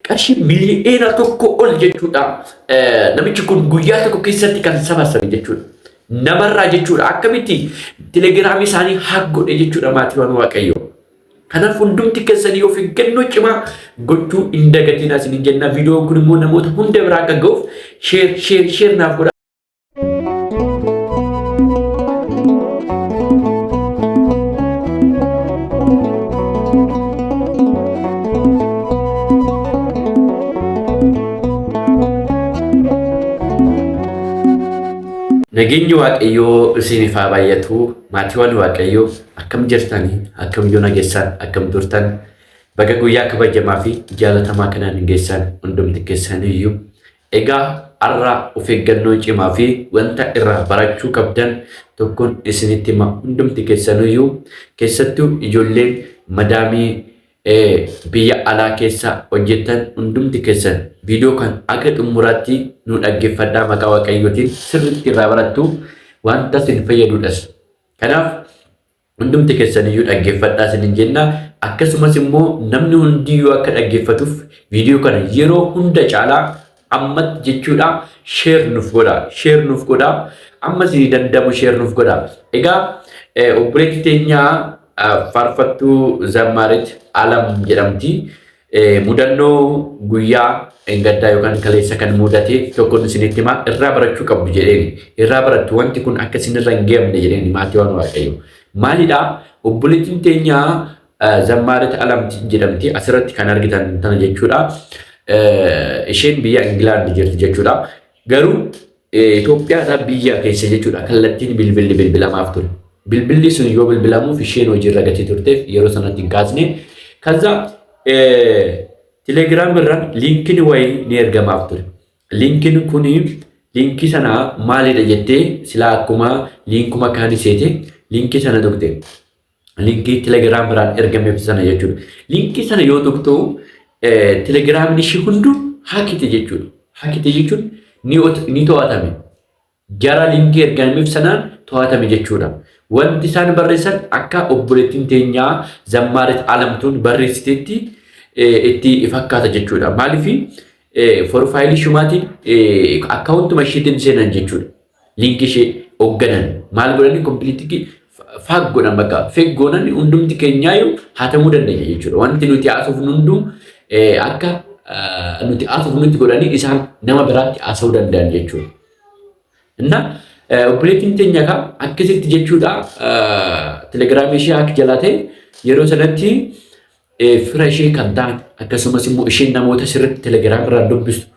Qarshii mili'eena tokko ol jechuudha. Namichi kun guyyaa tokko keessatti kan sabasabe jechuudha. Namarraa jechuudha. Akkamitti telegiraamii isaanii haaggodhe jechuudha maatiiwwan waaqayyoo. Kanaaf hundumti keessanii of eeggannoo cimaa gochuu hin dagatiin asiniin jenna. Viidiyoon kun immoo namoota hunda biraa akka ga'uuf sheer sheer sheer naaf godha. Nageenyi Waaqayyoo isiniif haa baay'atu. Maatiiwwan Waaqayyoo akkam jirtanii? Akkam yoo nageessaan? Akkam turtan? Baga guyyaa kabajamaa fi jaalatamaa kanaan hin geessaan hundumti keessaniyyuu Egaa arra of eeggannoo cimaa fi wanta irraa barachuu qabdan tokkon isinitti hima hundumti kessanuyyuu kessattuu ijolleen madaamii biyya alaa keessa hojjettan hundumti kessan viidiyoo kan aga dhummuraatti nu dhaggeffadhaa maqaa waaqayyootiin sirritti irraa barattu wanta sin fayyadudhas kanaaf hundumti kessaniyyuu dhaggeeffadhaa isinin jenna akkasumas immoo namni hundiyyuu akka dhaggeeffatuuf viidiyoo kana yeroo hunda caalaa ammatti jechuudha sheer nuuf godha sheer nuuf godha amma isinii danda'amu sheer nuuf godha egaa obboleetti teenyaa faarfattuu zammaarit alam jedhamti Mudannoo guyyaa engaddaa yookaan kaleessa kan mudate tokkoon isinitti himaa irraa barachuu qabdu jedheen irraa barattu wanti kun akka isinirra hin geemne jedheen maatii waan waaqayyo. Maalidhaa obboleettiin teenyaa zammaarit alamti jedhamti asirratti kan argitan tana jechuudha. Isheen biyya Ingilaandi jirti jechuudha. Garuu Itoophiyaadhaa biyya keessa jechuudha kallattiin bilbilli bilbilamaaf ture. Bilbilli sun yoo bilbilamuuf isheen hojiirra gatii turteef yeroo sanatti hin kaasne. Kaza Telegram irraan liinkiin wayii ni ergamaaf ture. Liinkiin kun liinkii sana maalidha jettee silaa akkuma liinkuma kaanii seete liinkii sana tuqxe. linkii telegiraam biraan ergameef sana jechuudha. Linkii sana yoo tuqxu telegiraamni ishii hundu hakite jechuudha. Hakite jechuun ni to'atame. Jara linkii ergameef sanaan to'atame jechuudha. Wanti isaan barreessan akka obboleettiin teenyaa zammaarit alamtuun barreessitetti itti fakkaata jechuudha. Maaliif forfaayilii shumaatiin akkaawuntuma ishiitiin seenan jechuudha. Linkii ishee hoogganan maal godhanii kompiiliitikii faak godhan bakka feek goonan hundumti keenyaayyuu hatamuu dandeenya jechuudha. Wanti nuti haasofnu hunduu akka nuti haasofnutti godhanii isaan nama biraatti haasa'uu danda'an jechuudha. Inna obboleettiin teenya egaa akkasitti jechuudha telegiraamii ishee akka jalaa ta'e yeroo sanatti fira ishee kan ta'an akkasumas immoo isheen namoota sirriitti telegiraamii irraa dubbistu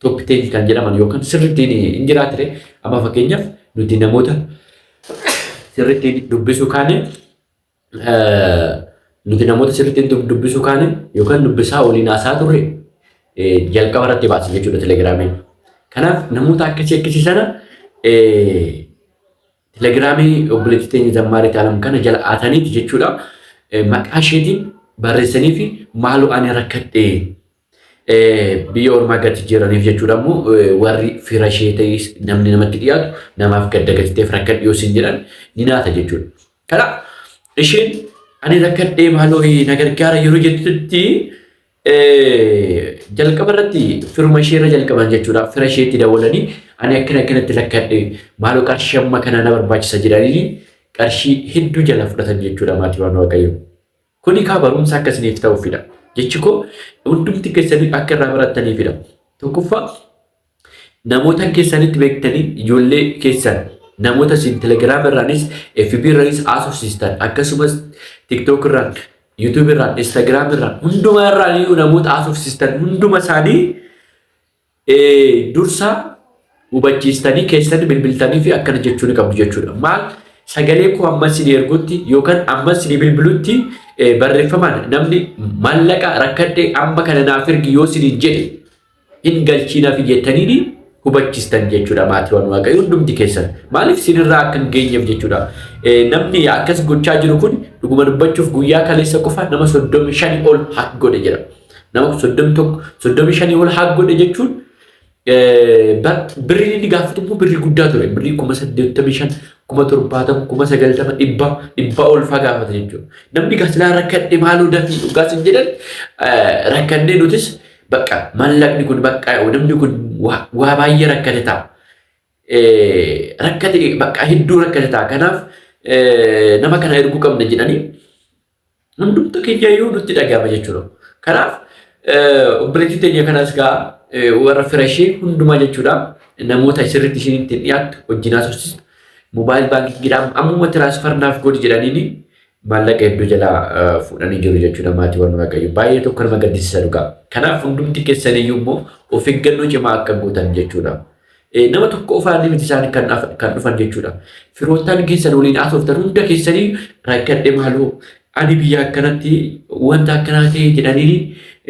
Top 10 kan jedhaman yookaan sirriitti hin jiraatire amma fakkeenyaaf nuti namoota sirriitti dubbisuu kaane nuti namoota sirriitti dubbisuu kaane yookaan dubbisaa waliin haasaa turre jalqaba irratti baase jechuudha telegiraamiin. Kanaaf namoota akkasii akkasii sana Telegiraamii obboleettii teenya Zammaariit Alam kana jala aataniiti jechuudha. Maqaa isheetiin barreessanii fi maaloo ani rakkadhe biyya ormaa gati jiraniif jechuudha immoo warri fira ishee ta'is namni namatti dhiyaatu namaaf gadda gatiteef rakkadhe yoo siin jedhan ni naata jechuudha. Kanaaf isheen ani rakkadhee maaloo na gargaara yeroo jettutti Jalqaba irratti firuma ishee irra jalqaban jechuudha. Fira isheetti dawwalanii ani akkana akkanatti lakkadhe maaloo qarshii amma kana na barbaachisa jedhanii qarshii hedduu jala fudhatan jechuudha maatiiwwan waaqayyo. Kuni kaa barumsa akka isiniif ta'uufidha. Jechi koo hundumti keessanii akka irraa barattaniifidha. Tokkoffaa Namootan keessanitti beektaniin ijoollee keessan namoota isin telegiraama irraanis FB irraanis haasofsiistan akkasumas tiktok irraan YouTube irraan Instagram irraan hundumaa irraan iyyuu namoota haasofsiistan hunduma isaanii eh, dursa hubachiistanii keessatti bilbiltanii fi akkana jechuu ni qabdu jechuudha. Maal sagalee koo amma isin ergutti yookaan amma isin bilbilutti eh, barreeffamaan namni maallaqa rakkadhee amma kana naaf ergi yoo isin jedhe hin galchiinafi jettaniini hubachistan jechuudha maatiiwwan waaqayyo hundumti keessan maaliif sinirraa akka hin geenyeef jechuudha namni akkas gochaa jiru kun dhuguma dubbachuuf guyyaa kaleessa qofa nama soddomi shani ol hak godhe jira nama soddomi tokko soddomi shani ol hak godhe jechuun birriin inni gaafatu immoo birrii guddaa ture birrii kuma saddeettamii shan kuma torbaatama kuma sagaltama dhibba dhibba olfaa gaafata jechuudha namni gasilaa rakkadhe maaloo dafii dhugaas hin jedhan rakkannee nutis Baqqa mallaqni kun baqqa namni kun waa baay'ee rakkate ta'a. Rakkate baqqa hedduu rakkate ta'a. Kanaaf nama kana erguu qabna jedhanii hundumtu kiyyayyuu nutti dhaga'ama jechuudha. Kanaaf obboleettii teenya kanas gaa warra fira ishee hundumaa jechuudha. Namoota sirriitti isheen ittiin dhiyaattu wajjin haasofsiistu. Moobaayil baankiidhaan ammuma tiraansfarnaaf godhi jedhaniini maallaqa hedduu jalaa fuudhanii jiru jechuudha maatii warra waaqayyo baay'ee tokko nama gaddisiisa dhugaa. Kanaaf hundumti keessan iyyuu immoo of eeggannoo cimaa akka gootan jechuudha. Nama tokko ofaanii miti isaan kan dhufan jechuudha. Firoottan keessan waliin haasoftan hunda keessanii rakkadhe maaloo ani biyya akkanatti wanta akkanaa ta'e jedhanii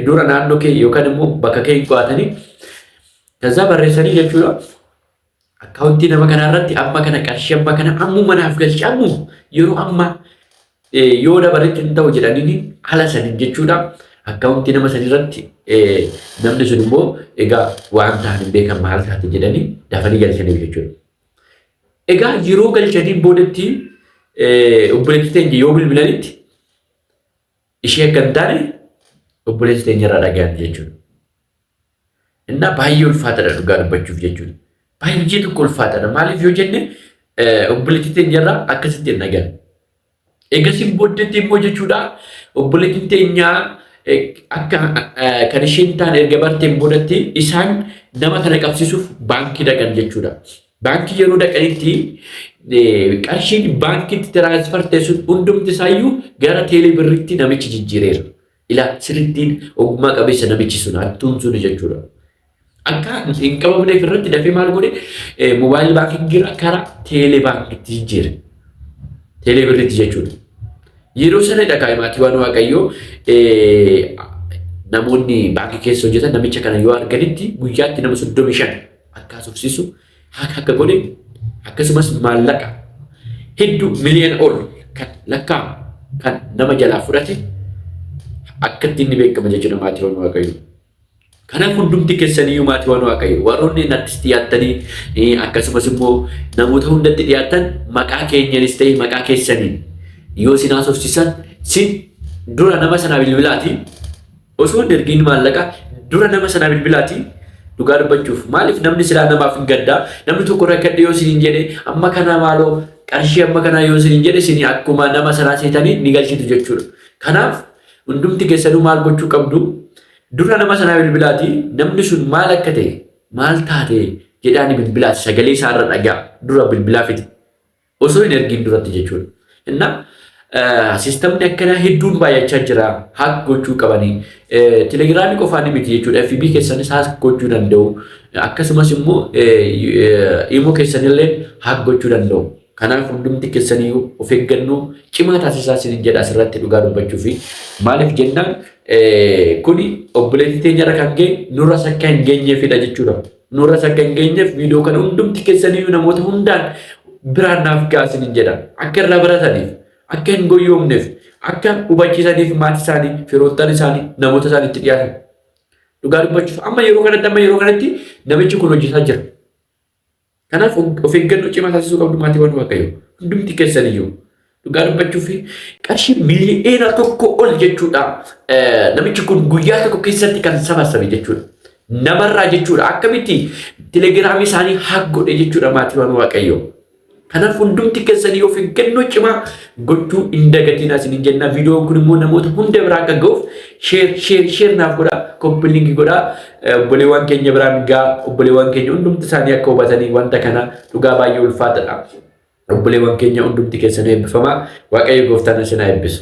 dura naannoo kee yookaan immoo bakka kee hin qo'atanii ከዛ በሬሰኒ ጀቹራ Akkaawuntii nama kanaa irratti amma kana qarshii amma kana ammuma naaf galchi ammuma yeroo amma yoo dabaretti hin ta'u jedhanii haala saniin jechuudha. Akkaawuntii nama sanii irratti namni sun immoo egaa waan ta'an hin beekan maal taate jedhanii dafanii galchaniif jechuudha. Egaa yeroo galchanii boodatti obboleettii teenya yoo bilbilanitti ishee akka hin taane obboleessi teenya irraa dhagahan jechuudha. Innaa baay'ee ulfaatadha dhugaa dubbachuuf jechuudha. Baay'ee hojii tokko ulfaatadha. Maaliif yoo jenne obboleettii teenyarraa akkasitti hin dhagan. Eegasiin booddeetti immoo jechuudha obboleettiin teenyaa akka kan isheen taane erga barteen boodatti isaan nama kana qabsiisuuf baankii dhaqan jechuudha. Baankii yeroo dhaqanitti qarshiin baankiitti tiraansfar teessuun hundumti isaayyuu gara teelee birriitti namichi jijjiireera. Ilaa sirittiin ogummaa qabeessa namichi sun hattuun suni jechuudha. Akka hin qabamneef irratti dafee maal godhe moobaayil baankii karaa teelee baankiitti jijjiire. Teelee birriitti jechuudha. Yeroo sana dhagaa maatii waan waaqayyoo namoonni baankii keessa hojjetan namicha kana yoo arganitti guyyaatti nama soddomii shan akka haasofsiisu haqa akka godhe akkasumas maallaqa heddu miliyoona ol kan lakkaa'amu kan nama jalaa fudhate akkatti inni beekama jechuudha maatii waan waaqayyoo. Kanaaf hundumti keessaniyyuu maatii waan waaqayyoo warroonni nattis dhiyaattanii akkasumas immoo namoota hundatti dhiyaattan maqaa keenyanis ta'e maqaa keessaniin yoo isin haasofsiisan sin dura nama sana bilbilaatiin Osoo hin ergiin maallaqa dura nama sanaa bilbilaati dhugaa dubbachuuf maaliif namni silaa namaaf hin gaddaa namni tokko rakkadhe yoo isiniin jedhe amma kana maaloo qarshii amma kanaa yoo isiniin jedhe isin akkuma nama sanaa seetanii ni galchitu jechuudha. Kanaaf hundumti keessanuu maal gochuu qabdu dura nama sanaa bilbilaati namni sun maal akka ta'e maal taate jedhaani bilbilaati sagalee isaarra dhagaa dura bilbilaa fiti. Osoo hin ergiin duratti jechuudha. Innaa sistamni akkanaa hedduun baay'achaa jira. Haak gochuu qabanii. Telegiraamii qofaa ni miti jechuudha. FB keessanis haak gochuu danda'u. Akkasumas immoo imo keessanillee haak gochuu danda'u. Kanaaf hundumti keessaniyyuu of eeggannoo cimaa taasisaa isiniin jedha asirratti dhugaa dubbachuu fi maaliif jennaan kuni obboleettii teenyarra kan ga'e nurras akka hin geenyeefidha jechuudha. Nurras akka hin geenyeef viidiyoo kana hundumti keessaniyyuu namoota hundaan biraan naaf ga'a isiniin jedha. Akka irraa barataniif, akka hin goyyoomneef, akka hubachiisaniif maatii isaanii, firoottan isaanii, namoota isaan itti dhiyaatan. Dhugaa dubbachuuf amma yeroo kanatti amma yeroo kanatti namichi kun hojjetaa jira. Kanaaf of eeggannoo cimaa taasisuu qabdu maatiiwwan Waaqayyoo. Hundumti keessaniyyuu. Dhugaa dubbachuuf qarshii miliyoona tokko ol jechuudha. Namichi kun guyyaa tokko keessatti kan sabasabe jechuudha. Namarraa jechuudha. Akkamitti telegiraamii isaanii haak godhe jechuudha maatiiwwan waaqayyoo. Kanaaf hundumti keessanii of eeggannoo cimaa gochuu hin dagatiin asin hin jennaa. Viidiyoon kun immoo namoota hunda biraa akka ga'uuf sheer sheer sheer naaf godhaa koppiliingi godhaa obboleewwan keenya biraan gaa obboleewwan keenya hundumti isaanii akka hubatanii wanta kana dhugaa baay'ee ulfaatadha. Obboleewwan keenya hundumti keessan eebbifamaa Waaqayyo gooftaan isin haa eebbisu.